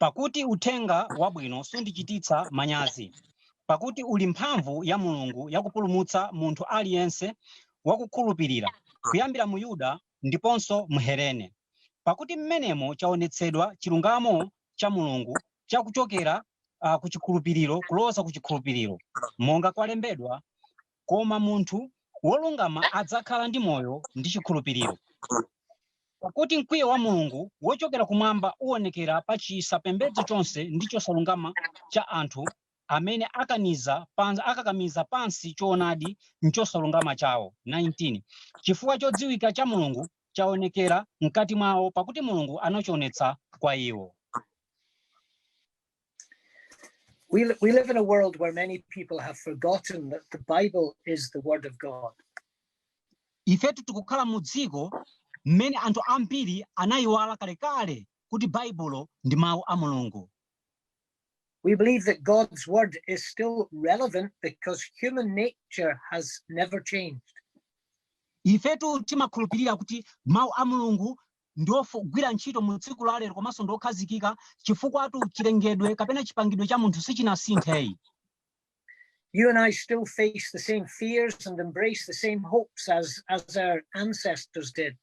Pakuti uthenga wabwino sundichititsa manyazi, pakuti uli mphamvu ya Mulungu yakupulumutsa munthu aliyense wakukhulupirira, kuyambira Myuda ndiponso Mhelene. Pakuti mmenemo chaonetsedwa chilungamo cha Mulungu cha kuchokera ku chikhulupiriro kuloza ku chikhulupiriro, monga kwalembedwa, koma munthu wolungama adzakhala ndi moyo ndi chikhulupiriro. Pakuti mkwiyo wa Mulungu wochokera kumwamba uonekera pa chisapembedzo chonse ndi chosalungama cha anthu amene akaniza pans- akakamiza pansi choonadi m'chosalungama chawo 19 chifukwa chodziwika cha mulungu chaonekera mkati mwawo pakuti mulungu anachionetsa kwa iwo We, we live in a world where many people have forgotten that the Bible is the Word of God. ifetu tikukhala mu dziko mmene anthu ambiri anayiwala kalekale kuti baibulo ndi mawu a mulungu We believe that God's Word is still relevant because human nature has never changed. ifetu timakhulupirira kuti mawu a mulungu ndi ogwira ntchito mu tsiku la lero komanso ndi okhazikika chifukwatu chilengedwe kapena chipangidwe cha munthu sichinasinthe You and I still face the same fears and embrace the same hopes as, as our ancestors did.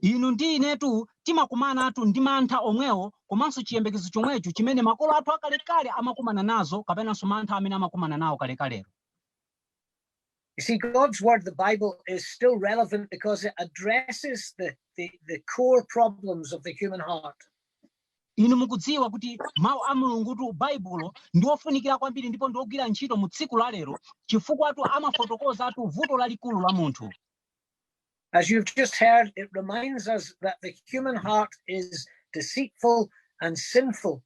inu ndi inetu timakumanatu ndi mantha omwewo komanso chiyembekezo chomwecho chimene makolo athu akalekale amakumana nazo kapenanso mantha amene amakumana nawo kalekalero You see, God's word, the Bible, is still relevant because it addresses the, the, the core problems of the human heart. inu mukudziwa kuti mawu a mulungutu baibulo ndi ofunikira kwambiri ndipo ndi ogwira ntchito mu tsiku la lero chifukwatu amafotokozatu vuto lalikulu la munthu As you've just heard, it reminds us that the human heart is deceitful and sinful.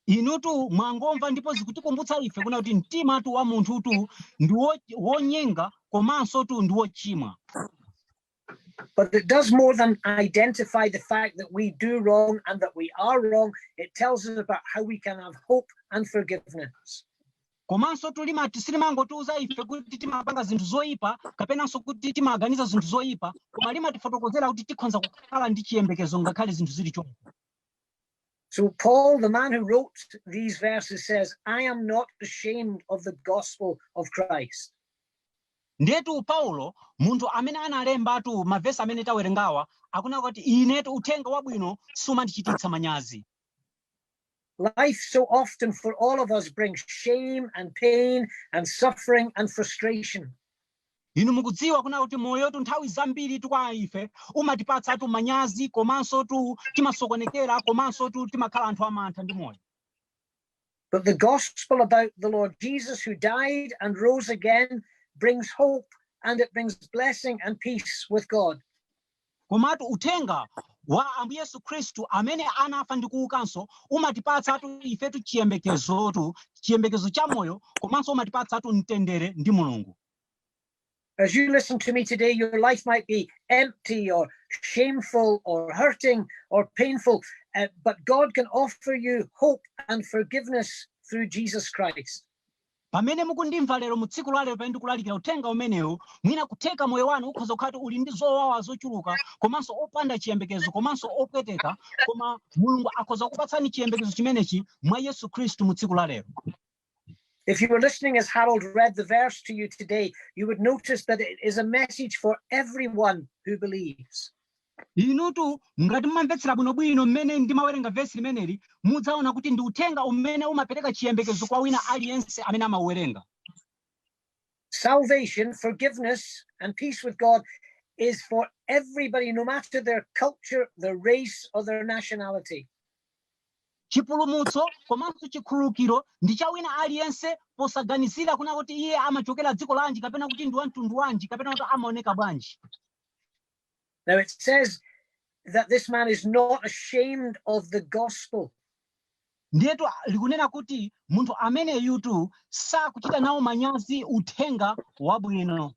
inutu mwangomva ndipo zikutikumbutsa ife kuna kuti mtima tu wa munthu tu ndi wo- wonyenga komanso tu ndi wochimwa But it does more than identify the fact that we do wrong and that we are wrong. It tells us about how we can have hope and forgiveness. komansotu limati silimangotiuza ife kuti timapanga zinthu zoyipa kapenanso kuti timaganiza zinthu zoyipa koma limatifotokozera kuti tikhonza kukhala ndi chiyembekezo ngakhale zinthu zili choncho So Paul, the man who wrote these verses, says, I am not ashamed of the gospel of Christ. ndetu paulo munthu amene analembatu mavesi amene tawerengawa akunena kuti inetu uthenga wabwino sumandichititsa manyazi Life so often for all of us brings shame and pain and suffering and frustration. inu mukudziwa kunena kuti moyotu nthawi zambiritu kwa ife umatipatsatu manyazi komansotu timasokonekera komansotu timakhala anthu amantha ndi moyo But the gospel about the Lord Jesus who died and rose again brings hope and it brings blessing and peace with God. Komatu uthenga wa Ambuye Yesu Khristu amene anafa ndi kuukanso umatipatsatu ifetu chiyembekezotu, chiyembekezo cha moyo komanso umatipatsatu mtendere ndi Mulungu. As you listen to me today, your life might be empty or shameful or hurting or painful, uh, but God can offer you hope and forgiveness through Jesus Christ. Pamene mukundimva lero, mu tsiku la lero, pamene ndikulalikira Uthenga umenewu, mwina kutheka moyo wanu ukhoza kukhala kuti uli ndi zowawa zochuluka, komanso opanda chiyembekezo, komanso opweteka, koma Mulungu akhoza kukupatsani chiyembekezo chimenechi mwa Yesu Khristu mu tsiku la lero. If you were listening as Harold read the verse to you today, you would notice that it is a message for everyone who believes. Inutu ngati mumamvetsera bwinobwino mmene ndimawerenga vesi limeneli, mudzaona kuti ndi uthenga umene umapereka chiyembekezo kwa wina aliyense amene amauwerenga. Salvation, forgiveness, and peace with God is for everybody, no matter their culture, their race, or their nationality. chipulumutso komanso chikhululukiro ndi cha wina aliyense posaganizira kuna kuti iye amachokera dziko lanji kapena kuti ndi wamtundu wanji kapena kuti amaoneka bwanji Now it says that this man is not ashamed of the gospel. ndiyetu a- likunena kuti munthu ameneyutu sakuchita nawo manyazi uthenga wabwino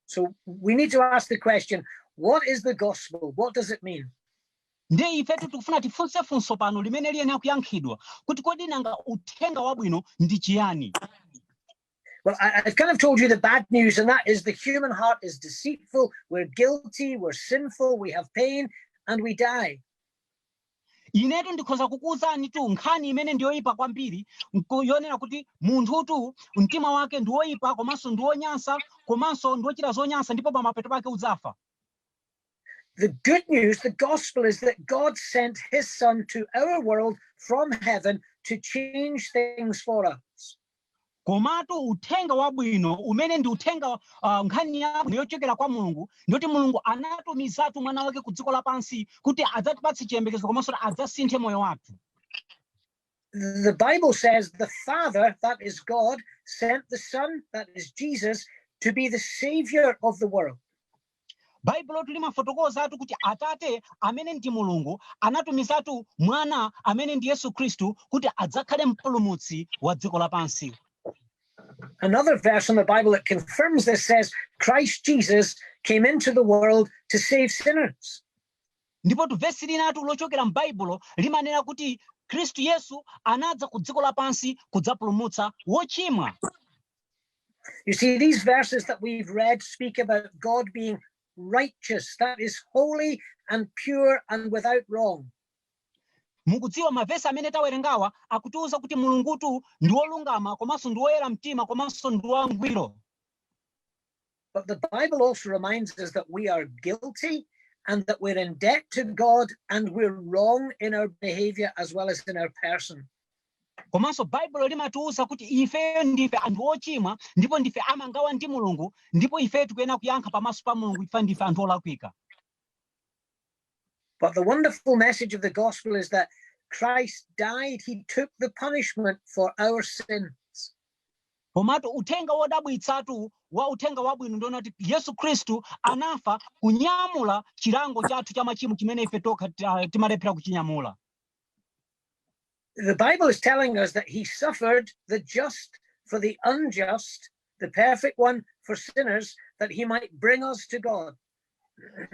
So we need to ask the question what is the gospel? What does it mean? ndiye ifetu tikufuna tifunse funso pano limene liyenera kuyankhidwa kuti kodi nanga uthenga wabwino ndi chiyani Well, I have kind of told you the bad news, and that is the human heart is deceitful. We're guilty, we're sinful, we have pain, and we die. inetu ndikhoza kukuwuzanitu nkhani imene ndiyoyipa kwambiri yonena kuti munthutu mtima wake ndiwoyipa komanso ndiwonyansa komanso ndiwochita zonyansa ndipo pamapeto pake udzafa The good news, the gospel is that God sent his son to our world from heaven to change things for us. komatu uthenga wabwino umene ndi uthenga uh, nkhani yabwino yochokera kwa mulungu ndiyoti mulungu anatumizatu mwana wake ku dziko lapansi kuti adzatipatse chiyembekezo komanso kuti adzasinthe moyo wathu the Bible says the Father, that is God, sent the Son, that is Jesus, to be the Savior of the world. baibulotu limafotokozatu kuti atate amene ndi mulungu anatumizatu mwana amene ndi yesu khristu kuti adzakhale mpulumutsi wa dziko lapansi Another verse in the Bible that confirms this says, Christ Jesus came into the world to save sinners. Ndipotu vesi linatu lochokera m'Baibulo limanena kuti Khristu Yesu anadza ku dziko lapansi kudzapulumutsa wochimwa. You see, these verses that we've read speak about God being righteous, that is holy and pure and without wrong. mukudziwa mavesi amene tawerengawa akutiuza kuti mulungutu ndi wolungama komanso ndi woyera mtima komanso ndi wangwiro But the Bible also reminds us that we are guilty and that we're in debt to God and we're wrong in our behavior as well as in our person. komanso baibulo limatiwuza kuti ifeyo ndife anthu ochimwa ndipo ndife amangawa ndi mulungu ndipo ifeyo tikuyenera kuyankha pamaso pa mulungu chifukwa ndife anthu olakwika But the wonderful message of the gospel is that Christ died, he took the punishment for our sins. komatu uthenga wodabwitsatu wa uthenga wabwino ndi wonena kuti yesu khristu anafa kunyamula chilango chathu cha machimo chimene ife tokha ti- ah, timalephera kuchinyamula the Bible is telling us that he suffered the just for the unjust, the perfect one for sinners, that he might bring us to God.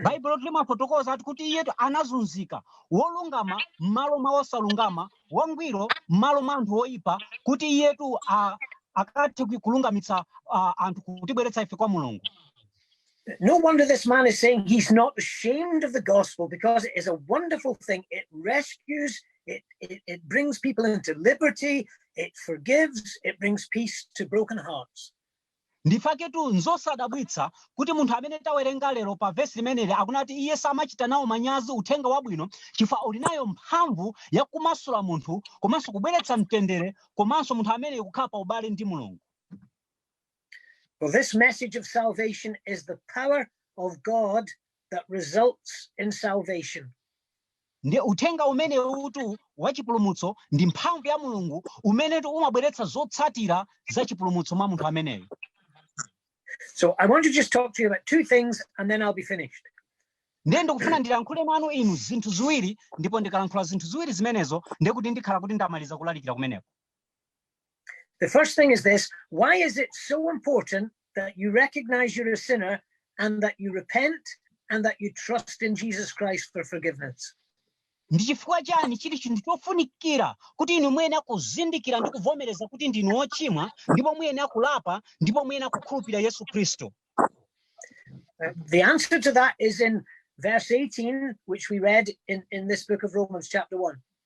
baibulotu limafotokoza ati kuti iyetu anazunzika wolungama m'malo mwa wosalungama wangwiro m'malo mwa anthu oyipa kuti iyetu a- akathe ku- kulungamitsa a, anthu kutibweretsa ife kwa mulungu No wonder this man is saying he's not ashamed of the gospel because it is a wonderful thing. It rescues, it, it, it brings people into liberty, it forgives, it brings peace to broken hearts. nchifukwa chaketu nzosadabwitsa kuti munthu amene tawerenga lero pa vesi limeneli akunena kuti iye samachita nawo manyazi uthenga wabwino chifukwa uli nayo mphamvu ya kumasula munthu komanso kubweretsa mtendere komanso munthu amene kukhala pa ubale ndi mulungu For this message of salvation is the power of God that results in salvation. ndiye uthenga umenewutu wa chipulumutso ndi mphamvu ya mulungu umenetu umabweretsa zotsatira za chipulumutso mwa munthu ameneyo So I want to just talk to you about two things and then I'll be finished. ndiye ndikufuna ndilankhule nanu inu zinthu ziwiri ndipo ndikalankhula zinthu ziwiri zimenezo ndiye kuti ndikhala kuti ndamaliza kulalikira kumeneko The first thing is this why is it so important that you recognize you're a sinner and that you repent and that you trust in Jesus Christ for forgiveness? ndi chifukwa chani chili chinthu chofunikira kuti inu muyenera kuzindikira ndi kuvomereza kuti ndinu ochimwa ndipo muyenera kulapa ndipo muyenera kukhulupirira yesu khristu Uh, the answer to that is in verse 18, which we read in, in this book of Romans, chapter 1.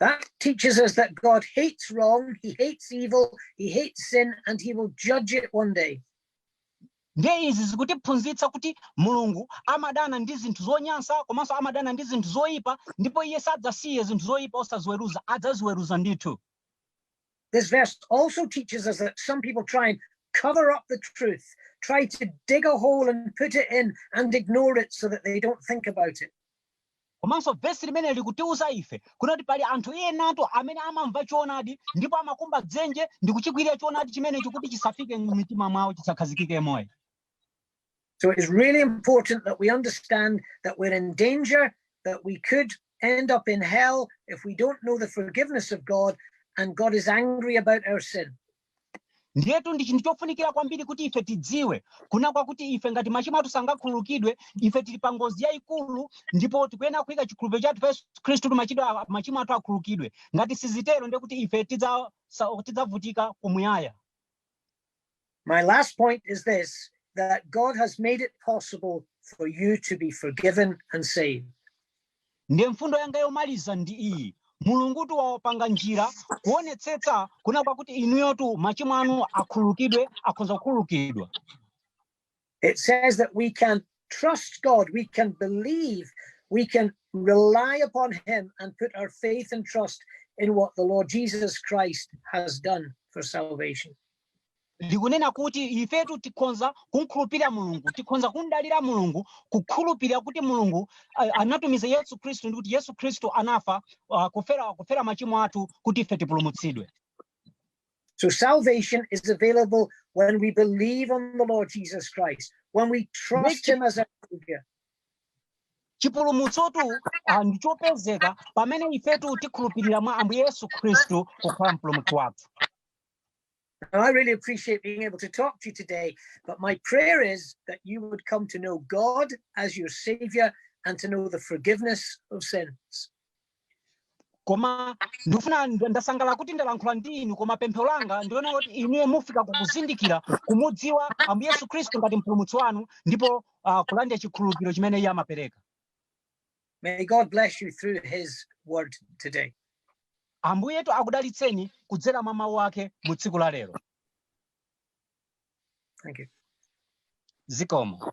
That teaches us that God hates wrong, he hates evil, he hates sin, and he will judge it one day. ndiye izi zikutiphunzitsa kuti mulungu amadana ndi zinthu zonyansa komanso amadana ndi zinthu zoyipa ndipo iye sadzasiye zinthu zoyipa osaziweruza adzaziweruza ndithu This verse also teaches us that some people try and cover up the truth, try to dig a hole and put it in and ignore it so that they don't think about it. Komanso vesi limeneli likutiuza ife kunena kuti pali anthu enatu amene amamva choonadi ndipo amakumba dzenje ndi kuchikwirira choonadi chimenecho kuti chisafike m'mitima mwawo, chisakhazikike m'moyo. So it's really important that we understand that we're in danger, that we could end up in hell if we don't know the forgiveness of God and God is angry about our sin. ndiyetu ndi chinthu chofunikira kwambiri kuti ife tidziwe kuna kwakuti ife ngati machimo athu sangakhululukidwe ife tili pa ngozi yayikulu ndipo tikuyenera kuyika chikhulupiriro chathu pa yesu khristu kuti machito a- machimo athu akhululukidwe ngati sizitero ndiye kuti ife tidzavutika kumuyaya My last point is this that God has made it possible for you to be forgiven and saved. Ndiye mfundo yanga yomaliza ndi iyi, Mulungutu wapanga njira kuonetsetsa kuna kwakuti inuyotu machimo anu akhululukidwe, akhonza kukhululukidwa. It says that we can trust God, we can believe, we can rely upon Him and put our faith and trust in what the Lord Jesus Christ has done for salvation. likunena kuti ifetu tikhonza kumkhulupirira mulungu tikhonza kumdalira mulungu kukhulupirira kuti mulungu uh, anatumiza yesu khristu ndi kuti yesu khristu anafa uh, kufera, kufera machimo athu kuti ife tipulumutsidwe So salvation is available when we believe on the Lord Jesus Christ, when we trust him as our savior. chipulumutsotu uh, ndi chopezeka pamene ifetu tikhulupirira mwa ambuye yesu khristu kukhala mpulumutsi wathu And I really appreciate being able to talk to you today. But my prayer is that you would come to know God as your Savior and to know the forgiveness of sins. koma ndifuna nd- ndasangalala kuti ndalankhula ndi inu koma pemphero langa ndi lonena kuti inuyo mufike pokuzindikira kumudziwa ambuye yesu khristu ngati mpulumutsi wanu ndipo uh, kulandira chikhululukiro chimene iye amapereka May God bless you through his word today. ambuyetu akudalitseni kudzera mwa mawu ake mu tsiku la lero Thank you. zikomo